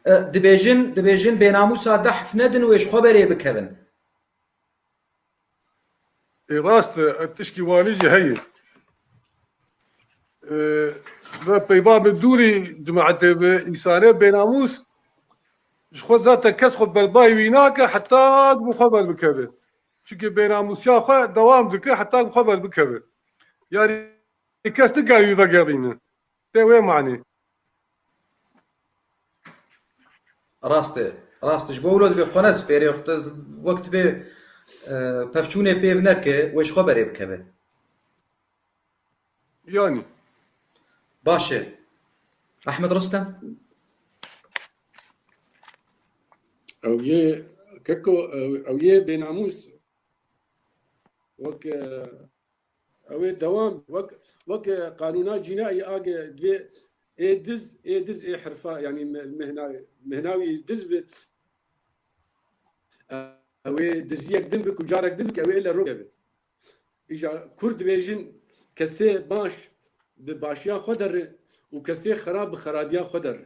Dibêjin, dibêjin bênamûsa de hif nedin wê ji xwe berê bikevin. Ê rast e, ev tişkî wanî jî heye. Ve peyva bi dûrî cemaetê bi însane bênamûs ji xwe zate kes xwe berbayî wî nake heta ku bi xwe berbikeve. Çimkî bênamûsiya xwe dewam dike heta ku bi xwe berbikeve. Yanî kes nikaye wî vegerîne. Tê wê manî. Rast e. Rast e. Ji bo wilo divê xwe ne sipêrê. Wek tibê pevçûnê pêv neke, wê ji xwe berê bikeve. Yanî. Baş e. Ehmed Ristem? Ew yê keko, ew yê bênamûs. Wek Ew ê dewam wek wek qanûna cînayî age divê ê diz ê diz ê hirfa yanî mehna mehna wî diz bi ew ê diziyek din bi ku carek din bi ew ê li rok evi. Îja Kurd dibêjin kesê baş bi başiya xwe derri û kesê xerab bi xerabiya xwe derri.